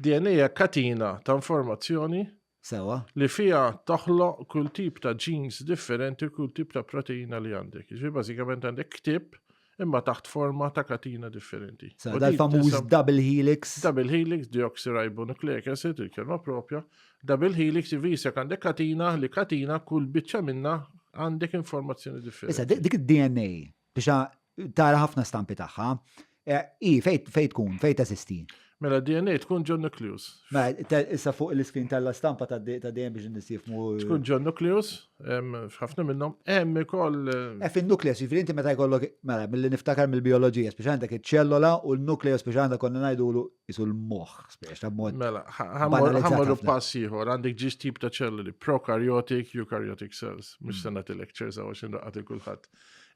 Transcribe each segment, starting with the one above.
DNA hija katina ta' informazzjoni Sewa. li fiha toħloq kull tip ta' genes differenti, kull tip ta' proteina li għandek. Ġifieri bażikament għandek ktib imma taħt forma ta' katina differenti. U Sewa, din dal-famuż tinsab- double helix. Double helix, deoxyribonucleic acid, il-kelma propja. Double helix jifisek għandek katina li katina kull biċċa minna għandek informazzjoni Issa, differenti. di- dik id-DNA Biex tara ħafna stampi tagħha. Eh, I, fejt fejt tkun, fejt eżisti. Mela DNA tkun John Nucleus. Ma, mela, issa fuq l-iskin tal-stampa ta' DNA biex nisifmu. Eh, tkun John Nucleus, ħafna minnom, hemm ikoll. Eh, e fin-nucleus, ġifieri inti meta jkollok, mela, mill-li niftakar mill-bioloġija, speċjalment dak iċ-ċellola u n-nucleus speċjalment konna ngħidulu isu l-moħ, spiex, ta' mod. Mela, ħammorru pass ieħor, għandek ġiġ tip ta' ċelluli, prokaryotik, eukaryotic cells, mux mm. sena t-lecture zawa xin raqqat il-kulħat.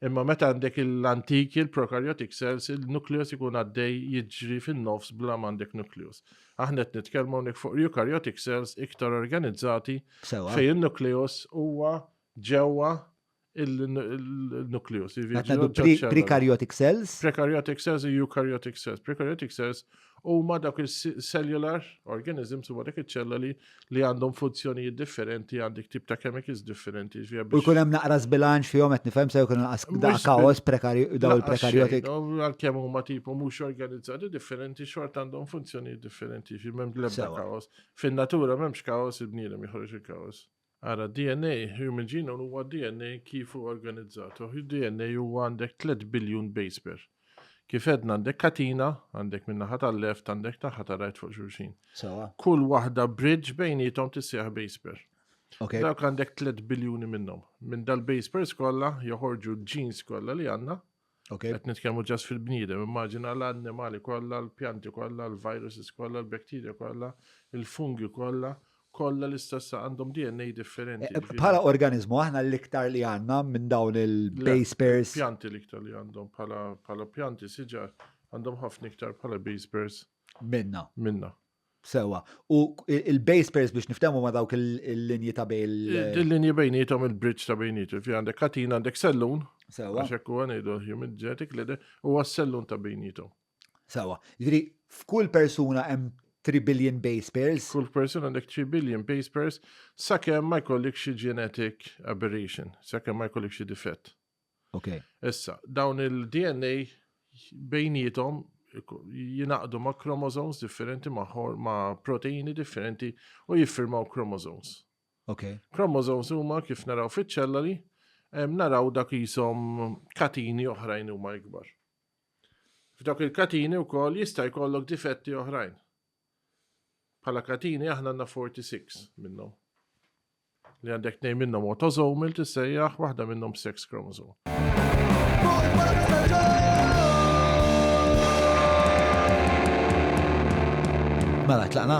Imma meta għandek l-antiki, il-prokaryotic cells, il-nukleus ikun għaddej jiġri fin-nofs bla għandek nukleus. Aħna qed nitkellmu hawnhekk fuq eukaryotic cells iktar organizzati fejn il-nukleus huwa ġewwa il-nukleus. Prekaryotic cells. Prekaryotic cells, eukaryotic cells. Prekaryotic cells u ma dak il-cellular organisms u dak il-ċelloli li għandhom funzjonijiet differenti għandik tip ta' chemicals differenti. U jkun hemm naqra bilanċ fihom qed nifhem se jkun da kaos daw il-prekaryotic. Għalkemm huma tipu mhux organizzati differenti xort għandhom funzjonijiet differenti fi m'hemm l-ebda kaos. Fin-natura m'hemmx kaos il-bniedem joħroġ il-kaos. Ara, DNA, human genome, huwa DNA kif hu organizzat. U DNA huwa għandek tliet biljun base pair. Kif għedna għandek katina, għandek minn naħa tal-left, għandek naħa ta' right fuq xulxin. Sawa. Kull waħda bridge bejnietom tissieħ base pair. Okay. Dawk għandek 3 biljuni minnhom. Minn dal-base pairs kollha joħorġu l-genes kollha li għandna. Okay. Qed nitkellmu ġas fil-bniedem, immaġina l-annimali kollha, l-pjanti kollha, l-viruses kollha, l-bakterja kollha, il-fungi kollha, kollha l-istess għandhom DNA differenti. Eh, eh, bħala organizmu aħna l-iktar li għandna minn dawn il-base pairs. Pjanti l-iktar li għandhom bħala pjanti siġar għandhom ħafna iktar bħala base pairs. Minna. Minna. Sewwa. U il-base pairs biex niftehmu ma' dawk il-linji ta' bejn il- Il-linji bejnietom il-bridge ta' bejnietom. Fi għandek katina għandek sellun. Sewwa. Għax hekk huwa ngħidu human genetic leader huwa s-sellun ta' bejnietom. Sewwa. Jiġri f'kull persuna hemm 3 billion base pairs. Kull persuna għandek 3 billion base pairs sakemm ma jkollok xi genetic aberration, sakemm ma jkollok xi difett. Okay. Issa, dawn il-DNA bejnietom jinaqdu ma' chromosomes differenti ma', ma proteini differenti u jiffirmaw chromosomes. Okay. Chromosomes huma kif naraw fiċ-ċellali, naraw dak jisom katini oħrajn huma ikbar. F'dak il-katini u koll jista' jkollok difetti oħrajn. Pala katini aħna għandna 46 minnhom. Li għandek tnejn minnhom autosomal tissejjaħ waħda minnhom sex chromosome. Mela tlaqna.